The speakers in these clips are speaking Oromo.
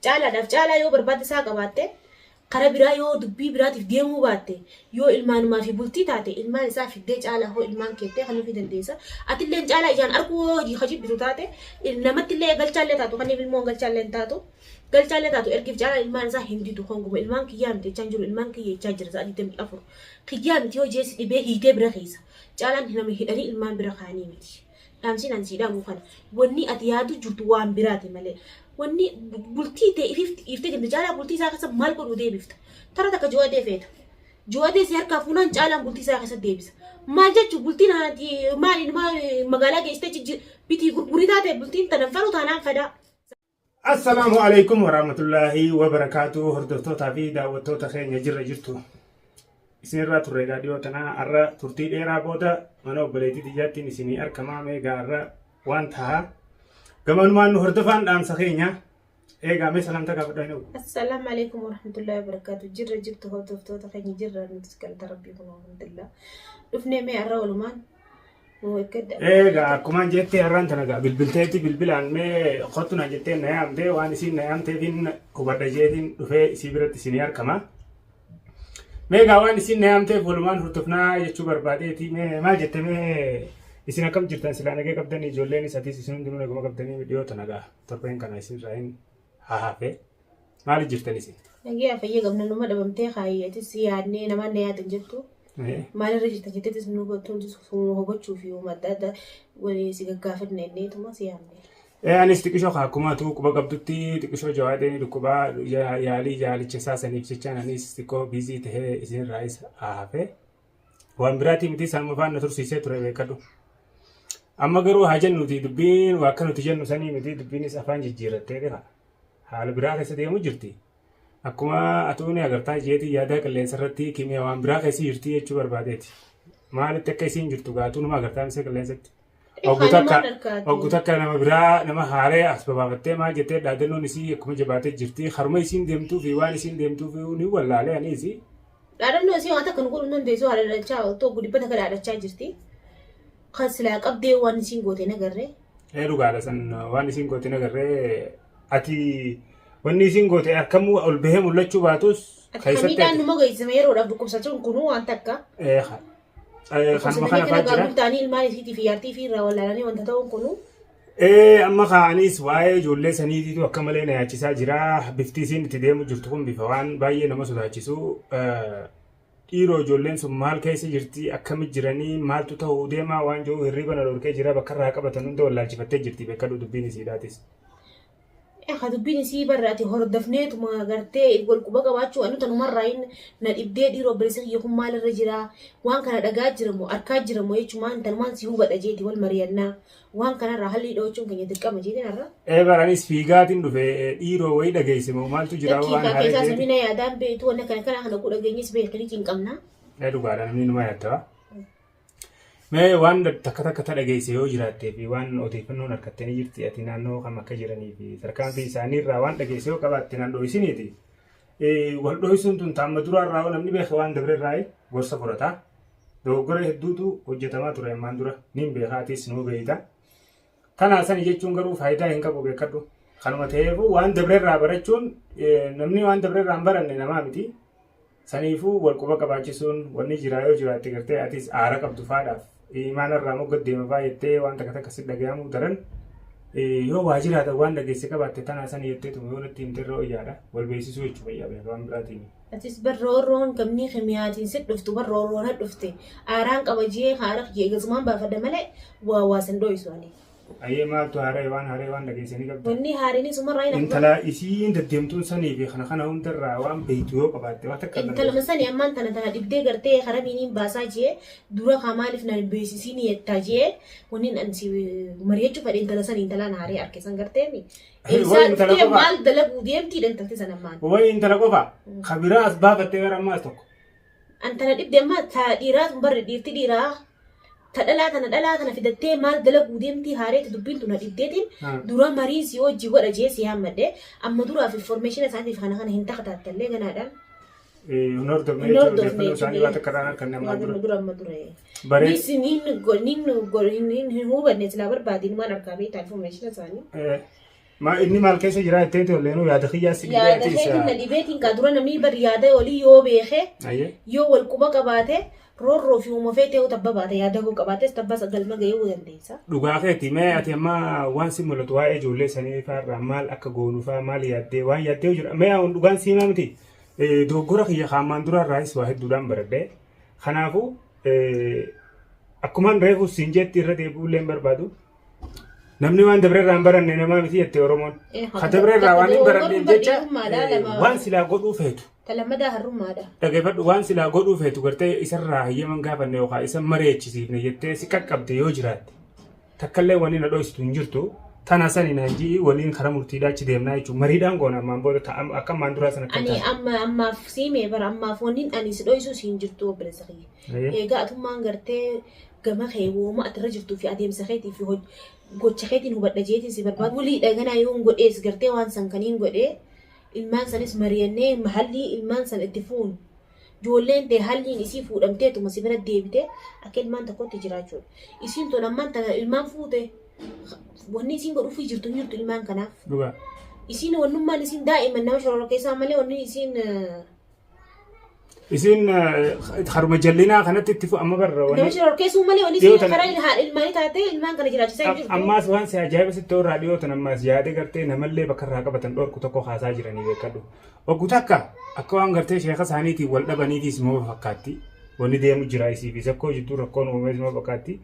Caalaadhaaf caalaa yoo barbaadda isaa qabaatte, karaa biraa yoo dubbii biraatiif deemuu baatte, yoo ilmaanumaa fi bultii taate, ilmaan isaa fiddee caalaa hoo ilmaan keettee kanuufii dandeessa. Atilleen caalaa ijaan arguu hoo ka jibbitu taate, namattillee galchaallee taatu kaniif ilmoon galchaallee hin taatu. Galchaallee taatu ergiif caalaa ilmaan isaa hin didu honguma ilmaan kiyyaa miti jechaan jiru ilmaan kiyya jechaa jira sa'a 24. Kiyyaa miti yoo jee si dhibee hiitee bira keessa. Caalaan nama hidhanii ilmaan bira kaanii miti. Dhaamsiin ani sii dhaamu kana. Wanni ati yaadu jirtu waan biraati malee. Wanni bultii tee ififti dhiiftee deemte caalaa bultii isaa keessa maal godhuu deebifta. Tara takka juwadee feeta. Juwadee si harkaa fuunaan caalaan bultii isaa keessa deebisa. Maal jechuun bultiin ati maal inuma magaalaa geessitee jijji bitii gurgurii taate bultiin tanan fedhu taanaan fedaa. Assalaamu alaikum waraamatullaahi wabarakaatu hordoftootaa fi daawwattoota keenya jirra jirtu isinirraa turre egaa dhiyoo tana har'a turtii dheeraa booda mana obboleettii tiyyaattiin isinii argamaa mee egaa har'a waan taha gamanumaan nu hordofaan dhaamsa keenya eegaa mee salaamta gaafadha hin Assalaamu alaikum warahmatullahi wabarakaatu. Jirra jirtu hordoftoota keenya jirra nutis galata rabbii kun alhamdulillah. Dhufnee mee har'a walumaan Egaa akkumaan jettee har'aan tana egaa bilbilteetti bilbilaan mee kottu naan jettee na yaamtee waan isiin na yaamteefiin hubadha jeetiin dhufee isii biratti isinii harkama. Mee egaa waan isiin na yaamteef walumaan hurtufnaa jechuu barbaadeeti mee maal jette mee isin akkam jirtan silaa nagee qabdanii ijoolleen isatiis isin hundinuu naguma qabdanii dhiyoo tana egaa torbeen kana isin irraa hin hahafe. Maali jirtan isin? Nagaa fayyaa qabna numa dhabamtee kaayyati si yaadnee namaan na yaada hin jettu. Maalirra jirta jetteetis nu gottoo sumuu hubachuu fi uuma adda addaa walii si gaggaafanne inneetuma si yaadne. Ee anis xiqishoo kaa akkuma tuu quba qabdutti xiqishoo jawaadeen dhukkubaa yaalii yaalicha isaa saniif jechaan anis xiqqoo biizii tahee isinirraayis haafee. waan biraatii miti isaan mafaan na tursiisee ture beekadhu. Amma garuu haa jennuti dubbiin waa akka nuti jennu sanii miti dubbiinis afaan jijjiirrattee dhiha. Haala biraa keessa deemu jirti. Akkuma atuu ni agartaa jeetii yaadaa qilleensa irratti kimiyaa waan biraa keessa jirti jechuu barbaadeeti. Maalitti akka isiin jirtu gaatuu numa agartaa misee qilleensatti. Oggu takka oggu takka nama biraa nama haaree as babaafattee maal jettee dhaadannoon isii akkuma jabaatee jirti. Haruma isiin deemtuu fi waan isiin deemtuu fi ni wallaalee ani isii. Dhaadannoo isii waan takka nu godhuu dandeessu haala dhalchaa otoo gudibba takka dhaadachaa jirti. Kan silaa qabdee waan isiin goote nagarree. Ee dhugaadha san waan isiin goote nagarree ati wanni isiin goote harkamuu ol bahee mul'achuu baatus Ati kan miidhaan numa geessisame yeroodhaaf dhukkubsachuun kunuu waan takka. Ee Eh, Kanuma Obboleessi kana keenya fa'aa jira. gaagul ta'anii ilmaan isiitii fi yaartii fi irraa wallaalanii wanta ta'uun kunu Eh, amma ka'anis waa'ee ijoollee saniitiitu akka malee na yaachisaa jira. Bifti isiin itti deemu jirtu kun bifa waan baay'ee nama sodaachisu. Eh, Dhiiroo ijoolleen sun maal keessa jirti, akkami jiranii, maaltu ta'uu deemaa waan jiru hirriiba na dhorkee jira. Bakka irraa qabatan hunda wallaalchifattee jirti beekadhu dubbiin isiidhaatis. Akka dubbiin isii barra ati hordofneetuma gartee wal quba qabaachuu anu tanumarraa hin na dhibdee dhiiroo obboleessi kiyya kun maalirra jiraa waan kana dhagaa jiramu arkaa jiramu jechumaan tanumaan si hubadha jeeti wal mariyannaa waan kanarraa hallii dhoochuun keenya dirqama jeetiin har'a. Ee bar anis fiigaatiin dhufe dhiiroo wayii dhageesse moo maaltu jira Lakkii waan kaa haree keessaa jeeti. samina yaadaan beektu wanna kana kana kana kuu dhageenyes beekanii cinqamnaa. Ee dhugaadha namni numa yaadda. Mee waan takka takka ta dhageesse yoo jiraattee fi waan odeeffannoon harkattee ni jirti ati naannoo kam akka jiranii fi tarkaanfii isaanii irraa waan dhageesse yoo qabaatte naan dho'isiniiti. Wal dho'isuun tun taamma duraa irraa yoo namni beeke waan dabre irraa gorsa fudhata. Dogoggora hedduutu hojjetamaa ture ammaan dura niin beekaa atiis nuu beeyta. Kanaa sani jechuun garuu faayidaa hin qabu beekadhu. Kanuma ta'eefuu waan dabrerraa barachuun namni waan dabrerraa hin baranne namaa miti. Saniifuu wal quba qabaachisuun wanni jiraa yoo jiraatte gartee atis aara qabdu faadhaaf imaana irraa mogga deema faa jettee waan takka takka si dhagayamu daran yoo waa jiraatan waan dhageesse qabaatte tanaa sani jettee tuma yoo natti himte irra wayyaadha wal beeksisuu jechuudha yaa beekaa waan biraatiin. Atis bar roorroon gamnii kimiyaatiin sit dhuftu bar roorroon had dhufte aaraan qaba jiyee haaraq jiyee gasumaan baafadha malee waa waa san dho'isu ani. Ayee maaltu haara'e waan haara'e waan dhageessanii qabda. Wanni haariin sumarraa hin Intala isiin deddeemtuun sanii fi kana kana hundarraa waan beektu yoo qabaatte waan takka Intala dandeessu. masani ammaan tana tana dhibdee gartee harabiin hin baasaa jiyee dura kaa maaliif na beeksisiin yettaa jiyee wanni an si mari'achuu fadhe intala sani intala na haaree arke san garteemi. Wayi Eessaa intala dhuftee qofaa. maal dalaguu deemtii dantante sana maal? Wayi intala qofa. Ka biraa as baafattee gara ammaas tokko. Antana dhibde amma ta dhiiraa tun barri dhiirti dhiiraa ta dhalaa tana dhalaa tana fidattee maal dalaguu deemtii haareetti dubbiin tun na dhibdeetiin Hmm. dura marii si hojii godha jee si yaammadde amma duraaf informeeshina isaatiif kana kana hin takataattalle ganaadhaan Hin hordofne Hin jechuudha. hordofne Odeeffannoo isaanii waan takka irraa kan namaan dura. dura amma dura. Baree- Nis hin hin go- hin go- hin- hin- hin hubanne silaa barbaadin waan argaa beektaa information isaanii. Eh, ma- Inni maal keessa jira jettee tolleenu yaada kiyyaa si dhibee Yaada ati keetiin na isa. dhibeetiin kaa dura namni bari yaada olii yoo beekee Ayyee. yoo wal quba qabaate roorroo fi uuma feetee yoo tabba baate yaada koo qabaates tabba galma ga'ee yoo dandeessa. Dhugaa keeti mee ati amma waan si mul'atu waa'ee ijoollee sanii faarraa maal akka goonu faa maal yaaddee waan yaaddee jira mee aan dhugaan siimaa miti Dogoggora kiyya kan ammaan duraa irraayis waa hedduudhaan baradhe. Kanaafuu akkumaan reefu siin jetti irra deebi'uu illee hin barbaadu. Namni waan dabre irraa hin baranne namaa miti jette Oromoon. Eh, Ka dabre irraa waan hin dogoggorri baranneef jecha barbaadummaadha, eh, lama- waan silaa godhuu feetu. Talammadaa harrummaadha. Dhageeffadhu waan silaa godhuu feetu gartee isarraa hayyaman gaafanne yookaan isa mareechisiifne jettee si qaqqabde yoo jiraatte. Takkallee wani na dhoysitu hin jirtu. Tana sani naan ji'i waliin kara murtiidhaa achi deemnaa jechuun mariidhaan goona ammaan booda ta- am- akka ammaan duraa sana akka hin Ani taane. amma ammaaf siime bara ammaaf wannin ani si dhoysuu si hin jirtu obboleessa kiyya. Ayyee. Eegaa atummaan gartee gama kee wooma ati irra jirtuu fi adeemsa keetii fi hoj- gocha keetiin hubadha jeetiin si barbaadu. Wulii dhaganaa yoo hin godhees gartee waan san kan hin godhee ilmaan sanis mari'annee haalli ilmaan san itti fuunu Ijoolleen tee halliin isii fuudhamteetuma si bira deebite akka ilmaan tokkotti jiraachuudha. Isiin tun ammaan tana ilmaan fuute wanni isiin godhuufii jirtu hin jirtu ilmaan kanaaf. Dhugaa. Isiin wannummaan isiin daa'ima nama shorora keessaa malee wanni isiin eh, Isiin eh, haruma jallinaa kanatti itti fu amma barra nama wani. shorora keessuu malee wanni Dhiyoo isiin tana- karaa haadha ilmaanii taatee ilmaan kana jiraachisaa hin jirtu. Ammaas waan si ajaa'iba sitti irraa dhiyootan ammaas yaada gartee namallee bakka irraa qabatan dhorku tokko kaasaa jiranii beekadhu. Oggu takka akka waan gartee sheeka isaaniitiin wal dhabaniitii isuma fakkaatti. Wanni deemu jira isii fi zakkoo jidduu rakkoon uumamee isuma fakkaatti.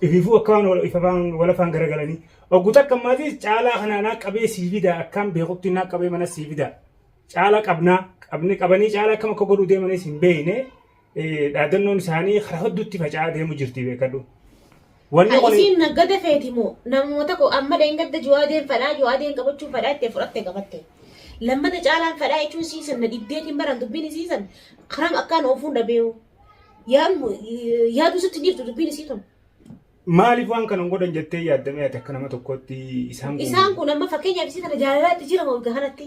Ifiifuu akka waan wal- ifafaan wal afaan garagalanii. Oggu takka maatis caalaa kanaa naa qabee sii fidaa akkaan beekutti naa qabee mana sii fidaa. Caalaa qabnaa qabni qabanii caalaa akkam akka godhuu deemanis hin beekne. Dhaadannoon isaanii karaa hedduutti faca'aa deemu jirti beekadhu. Wanni kun Isiin naggada feeti moo namuma tokko amma dheengadda juwaadeen fadhaa juwaadeen qabachuun fadhaa itti fudhatte qabatte. Lammata caalaan fadhaa jechuun siisan na dhibdeetiin baran dubbiin siisan karam akkaan oofuun dhabeewu. Yaadu sitti dhiiftu dubbiin isii tun. maaliif waan kana hin godhan jettee yaaddamee ati akka nama tokkootti isaan Isaan kun amma fakkeenyaaf isii tana jaalalaatti jira moo bika kanatti.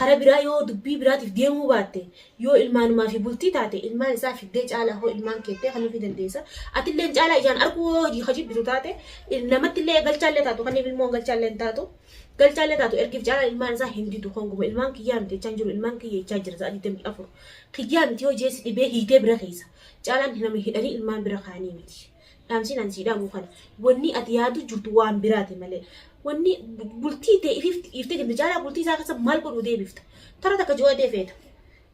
Kara biraa yoo dubbii biraatiif deemuu baatte, yoo ilmaanumaa fi bultii taate, ilmaan isaa fiddee caalaa hoo ilmaan keettee kanuufii dandeessa. Atilleen caalaa ijaan arguu hoo hojii ka jibbitu taate, namattillee galchaallee taatu kaniif ilmoon galchaallee hin taatu. Galchaallee taatu ergiif caalaan ilmaan isaa hin didu honguma ilmaan kiyyaa miti jechaa hin jiru ilmaan kiyya jechaa jira sa'a 24. Kiyyaa miti yoo jee si dhibee hiitee bira keessa. Caalaan nama hidhanii ilmaan bira kaa'anii miti. Dhaamsiin an sii dhaamu kana. Wanni ati yaadu jirtu waan biraati malee. Wanni bultii tee ifiif dhiiftee deemte caalaa bultii isaa keessa maal godhuu deebifta. Tara takka joo'adee feeta.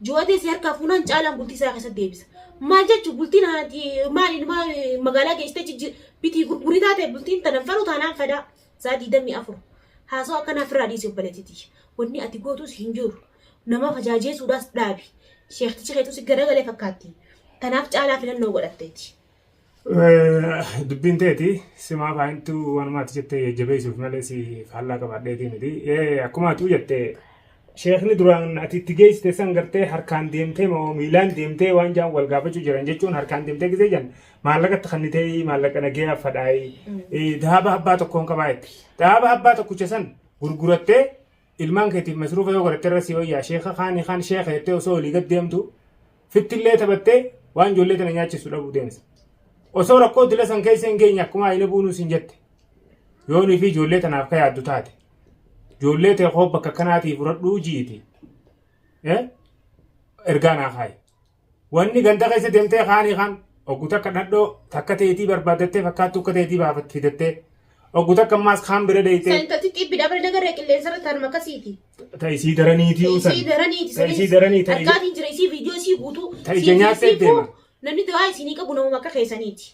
Joo'adee si harkaa fuunaan caalaan bultii isaa keessa deebisa. Maal jechuun bultiin ati maal ilmaa magaalaa geessitee jijji bitii gurgurii taate bultiin tanan fedhu taanaan fedaa. Saa diidamii afur. Haasoo akkanaa ofirraa dhiisi obboleettitii. Wanni ati gootuus hin jiru. Nama fajaajeesuudhaas dhaabi. Sheektichi keetu si garagalee fakkaatti. Tanaaf caalaa filannoo godhatteeti. Dubbiin teeti simaa faayintu waanuma ati jette jajjabeessuuf malee si faallaa qabaadheetii miti. Akkuma atuu jette sheekni duraan ati itti geessite san gartee harkaan deemtee moo miilaan deemtee waan jaan wal gaafachuu jiran jechuun harkaan deemtee gisee jan maallaqa itti kannitee maallaqa nagee affadhaayi. Daaba abbaa tokkoon qabaa jette. Daaba abbaa tokkicha san gurgurattee ilmaan keetiif masruufa yoo godhatte irra si wayyaa sheeka kaanii kaan sheeka jettee osoo olii gad deemtu fittillee taphattee waan ijoollee tana nyaachisu dhabuu deemsa. Osoo rakkoo dila san keessa hin geenye akkuma ayina buunuu sin jette yoo nuyi fi ijoollee tanaaf ka yaaddu taate ijoollee tee koo bakka kanaatii fudhadhuu ji'iti ergaa naa kaayi. Wanni ganda keessa deemtee kaanii kaan oggu takka dhadhoo takka teetii barbaaddattee fakkaattu akka teetii baafatti fidattee oggu takka ammaas kaan bira deeytee Santatti xibbi dabre nagarree qilleensa irratti harma akkasiiti. ta isii daraniitii usan Isii daraniiti. ta isii daranii ta ija- Harkaatiin jira isii viidiyoo isii guutuu. Ta ija nyaattee deema. Namni du'aa isinii qabu namuma akka keessaniiti.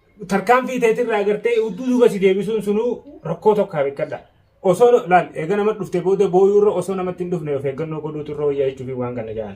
tarkaanfii teetirraa agartee udduu duuba si deebisuun sunuu rakkoo tokko haa beekadha. Osoo laal eega nama dhufte booda booyuurra osoo namatti hin dhufne of eeggannoo godhuutu irra wayyaa jechuufi waan kana ja'an.